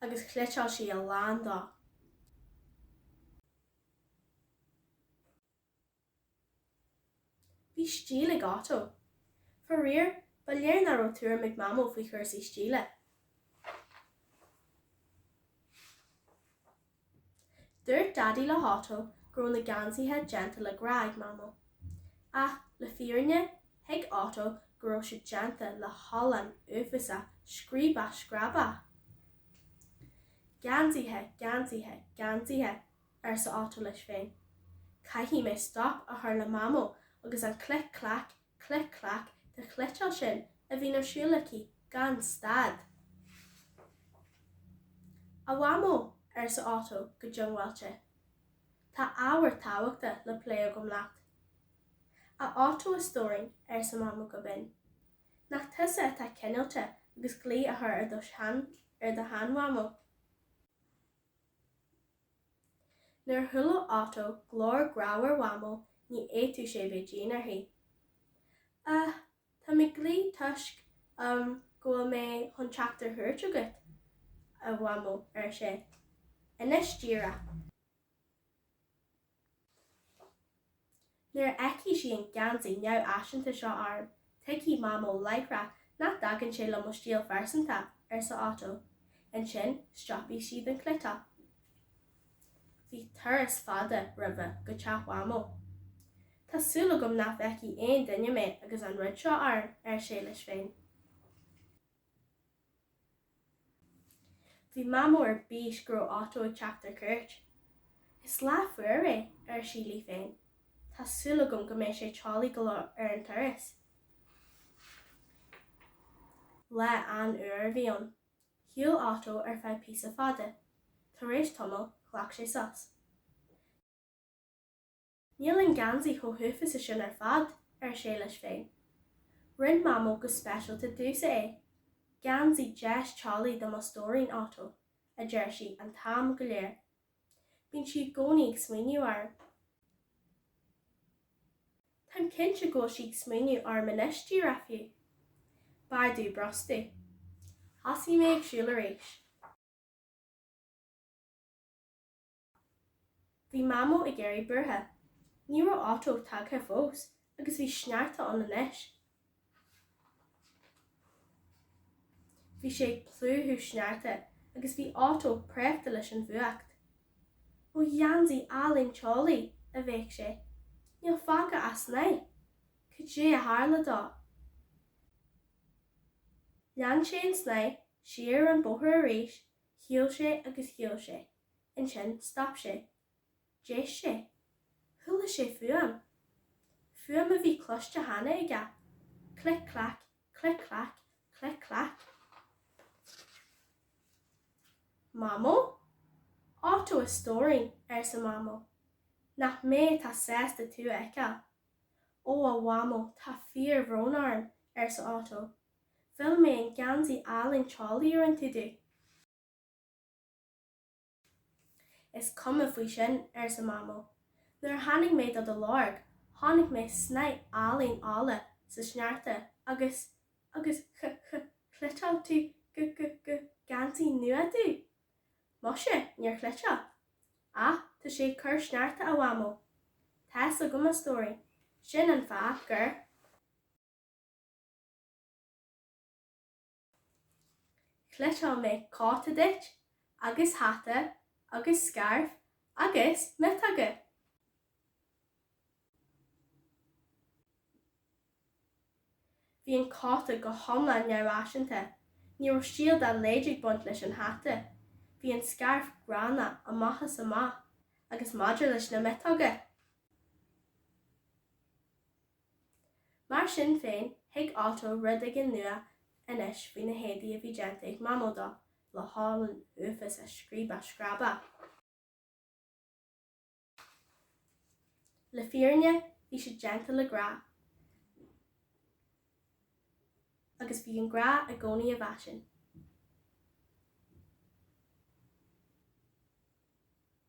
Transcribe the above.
agus chniotáil sí a lán dó. Bhí stíl ag Otto. Faraor, ba léir nach raibh tuairim ag Mamó faoi chúrsaí stíle. Dúirt Daidí le hOtto go raibh na geansaithe déanta le grá ag Mamó. Ach le fírinne, thuig Otto go raibh siad déanta le holann uafásach scríobach scrábach! Geansaithe, geansaithe, geansaithe, arsa Otto leis féin. Caithfidh mé stop a chur le Mamó agus an clic clac Clic Clac de chniotáil sin a bhíonn ar siúl aici gan stad. 'A Mhamó, arsa Otto go diongbháilte. 'Tá ábhar tábhachtach le plé agam leat. 'A Otto a stóirín, arsa Mamó go binn. 'Nach tusa atá cineálta agus glao a chur ar do shean-Mhamó? Nuair a chuala Otto glór grámhar Mhamó ní fhéadfadh sé bheith dian uirthi. Ah, tá mé ag glaoch toisc, ehm, go bhfuil mé chun teacht ar chuairt agat, a Mhamó, ar sé. Anois díreach. Nuair a fheicfidh sí an geansaí neamhfhaiseanta seo orm, tuigfidh Mamó láithreach nach dtagann sé le mo stíl phearsanta, arsa Otto. Ansin stopfaidh sí den chniotáil. Bhí turas fada roimhe go teach Mhamó. Tá súil agam nach bhfeicfidh aon duine mé agus an rud seo orm, ar sé leis féin. Bhí Mamó ar bís go raibh Otto ag teacht ar cuairt. Is lá fuar é, ar sí léi féin. Tá súil agam go mbeidh sé teolaí go leor ar an turas. Lá an-fhuar a bhí ann. Shiúil Otto ar feadh píosa fada. Tar éis tamaill, ghlac sé sos. Níl an geansaí chomh huafása sin ar fad, ar sé leis féin. Rinne Mamó go speisialta domhsa é. Geansaí deas teolaí do mo stóirín, Otto, a deir sí an t-am go léir. Bíonn sí i gcónaí ag smaoineamh orm. Táim cinnte go bhfuil sí ag smaoineamh orm anois díreach fiú. B'fhearr dom brostú. Thosaigh sé ag siúl arís. Bhí Mamó ag éirí buartha. Ní raibh Otto tagtha fós agus bhí sneachta ann anois. Bhí sé ag plúchadh sneachta agus bhí Otto préachta leis an bhfuacht. Ó gheansaí álainn teolaí! a bhéic sé. Níl fágtha ach snáth! Cad é a tharla dó? Lean sé an snáth, siar an bóthar arís, shiúil sé agus shiúil sé. Ansin stop sé. D'éist sé. Chuala sé fuaim. Fuaim a bhí cloiste cheana aige. Clic clac, clic clac, clic clac. Mamó? Otto a stóirín, arsa Mamó. Nach mé atá sásta tú a fheiceáil? Ó a Mhamó tá fíorbhrón orm, arsa Otto. Mhill mé an geansaí álainn teolaí a rinne tú domh. Is cuma faoi sin, arsa Mamó. Nuair a tháinig mé do do lorg, chonaic mé snáth álainn olla sa sneachta agus, agus ch, ch, chniotáil tú g, g, g, geansaí nua domh? Muise, níor chniotáil. Á, tá sé ag cur sneachta, a Mhamó. Tá fhios agam, a stóirín. Sin an fáth gur. Chniotáil mé cóta duit agus hata agus scairf agus miotóga. Bhí an cóta go hiomlán neamhfhaiseanta. Ní raibh stíl dá laghad ag baint leis an hata. Bhí an scairf gránna amach is amach agus maidir leis na miotóga. Mar sin féin, thuig Otto rud éigin nua anois faoi na héadaí a bhí déanta ag Mamó dó, le holann uafásach scríobach scrábach. Le fírinne, bhí siad déanta le grá, agus bhí an grá i gcónaí i bhfaisean.